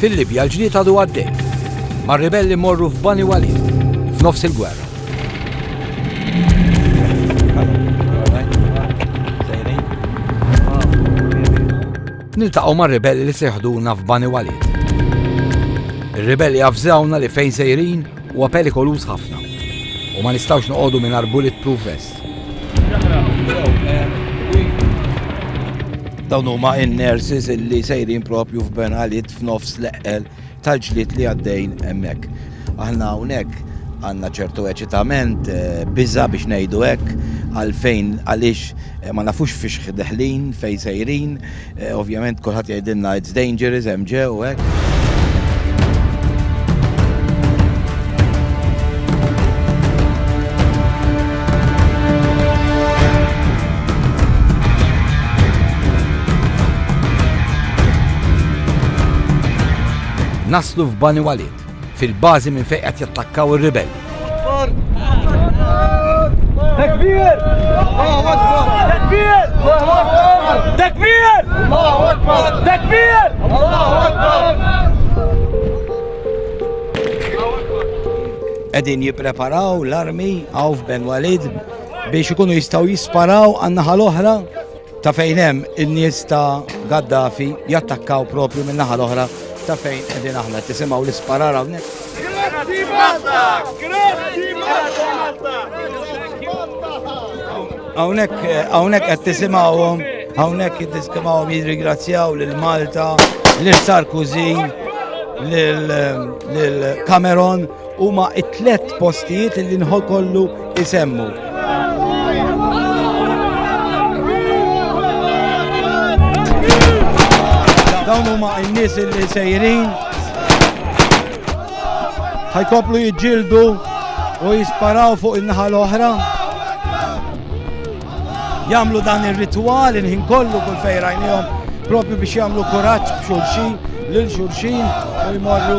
Fil-Libja l-ġlied għadu għaddej. Ma' ribelli morru f'Bani Walid, f'nofs il-gwerra. Niltaqgħu ma' ribelli li seħduna f'Bani Walid. Ir-ribelli għafżawna li fejn sejrin Huwa perikoluż ħafna u ma nistgħux noqogħdu mingħajr bulletproof vest. Dawn huma in-nurses illi sejrin propju f'Ben Għalit f'nofs l-eqqel tal-ġlied li għaddejn hemmhekk. Aħna hawnhekk għandna ċertu eċitament, eh, biża biex ngħidu hekk, għalfejn għaliex eh, ma nafux fiex deħlin, fejn sejrin, Eh, ovvjament kulħadd jgħidilna it's dangerous hemm ġew u hekk. Naslu f'Bani Walid, fil-bażi minn fejn qed jattakkaw ir-ribelli. Qegħdin jippreparaw l-armi hawn f'Ben Walid biex ikunu jistgħu jisparaw għan-naħa l-oħra Ta' fejn hemm in-nies ta' Gaddafi jattakkaw propju minn naħa l-oħra ta' fejn qegħdin aħna tisimgħu l-isparar hawnhekk. Grazzi Malta! Grazzi Malta! Hawnhekk hawnhekk qed tisimgħuhom hawnhekk qed tisimgħuhom jirringrazzjaw lil Malta, lil Sarkozy, lil Cameron huma t-tlet postijiet li nħol kollu isemmu. Dawn huma n-nies li sejrin ħajkoplu jiġġieldu u jisparaw fuq in-naħa l-oħra. Jamlu dan ir-ritwal inħin kollu kull fejrajnihom propju biex jagħmlu kuraġġ b'xulxin lil xulxin u jmorru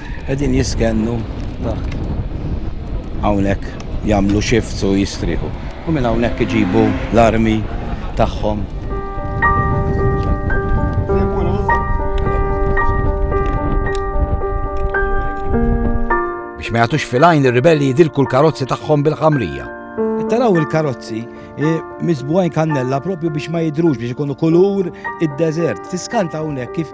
Qegħdin jiskennu taħt hawnhekk jagħmlu shifts u jistrieħu. U minn hawnhekk iġibu l-armi tagħhom. Biex ma jagħtux fil-għajn ir-ribelli jidilku l-karozzi tagħhom bil-ħamrija. Taraw il-karozzi e, miżbugħin kannella propju biex ma jidrux biex ikunu kulur id-deżert. Tiskanta hawnhekk kif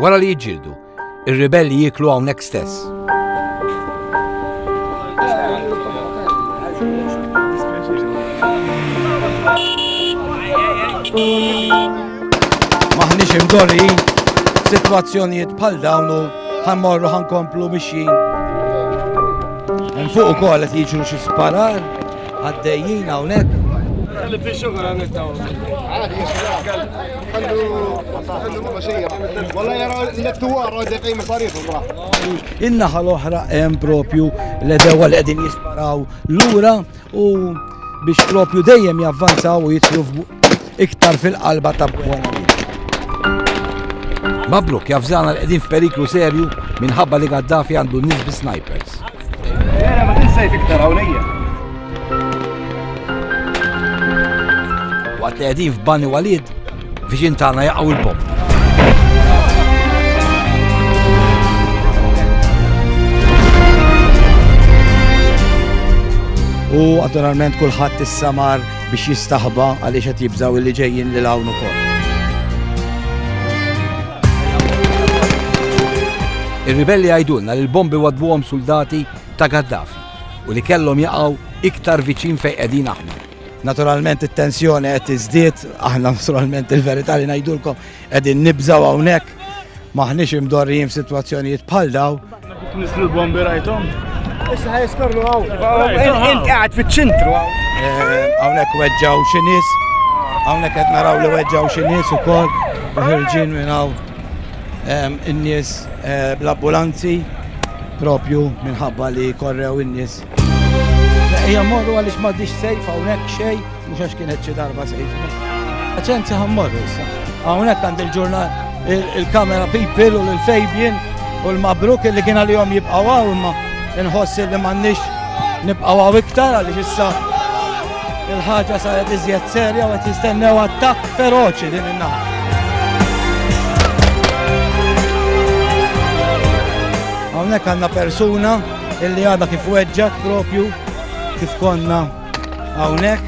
Wara li jiġġieldu, ir-ribelli jieklu hawnhekk stess. Maħniex imdorri, situazzjonijiet bħal dawnu ħammorru ħankomplu mixjin. Fuq ukoll qed jiġu xi sparar. Għaddejjin hawnhekk. In-naħa l-oħra hemm propju l-edewa li qegħdin jisparaw lura u biex propju dejjem javvanzaw u jitlu iktar fil-qalba ta' Buena Vista. Mabruk, jafżana li qegħdin f'periklu serju minħabba li Gaddafi għandu n-nies bi snipers. Vera ma tinsejf iktar hawnija. Waqt li qegħdin f'Bani Walid, viċin tagħna jaqgħu l-bomb. U naturalment kulħadd is-samar biex jistaħba għaliex qed jibżgħu li ġejjin lil hawn ukoll. Ir-ribelli għajdulna li l-bombi wadbuhom soldati ta' Gaddafi u li kellhom jaqgħu iktar viċin fejn qegħdin aħna. Naturalment it-tensjoni qed tiżdied, aħna naturalment il-verità li ngħidulkom Qegħdin nibżgħu hawnhekk maħniex imdorrijin f'sitwazzjonijiet bħal daw. Nislu l-bombi rajthom? Issa ħajskorlu għaw. Int qegħed fiċ-ċentru għaw. Eh, hawnhekk weġġaw xi nies, hawnhekk qed naraw li weġġaw xi nies ukoll u ħirġin minn hawn ehm, in-nies eh, bl-ambulanzi propju minħabba li korrew in-nies Ejja morru għaliex m'għaddix sejf hawnhekk xejn mhux għax kienet xi darba sejf. Aċenzi ħammorru issa. Hawnhekk għand il-ġurnal il-kamera people u l-fejbien u l-mabruk li kien għalihom jibqgħu hawn imma nħossi li m'għandniex nibqgħu hawn iktar għaliex issa il-ħaġa saret iżjed serja u qed jistennew attakk feroċi din in-naħa. Hawnhekk għandna persuna illi għadha kif weġġat propju kif konna hawnhekk.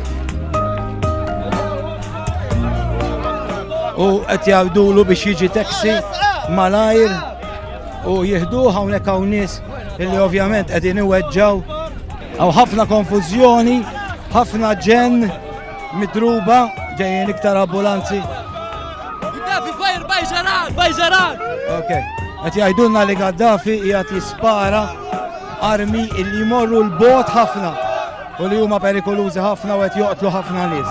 U qed jgħidulu biex jiġi taxi malajr u jihdu hawnhekk hawn nies illi ovvjament qegħdin iweġġaw. Hawn ħafna konfużjoni, ħafna ġen, Midruba, ġejjin iktar ambulanzi. Gaddafi fajr bajġaran, bajġaran! Ok, għet jajdunna li Gaddafi jgħat jispara armi illi jmorru l-bot ħafna u li huma perikolużi ħafna u għet joqtlu ħafna nis.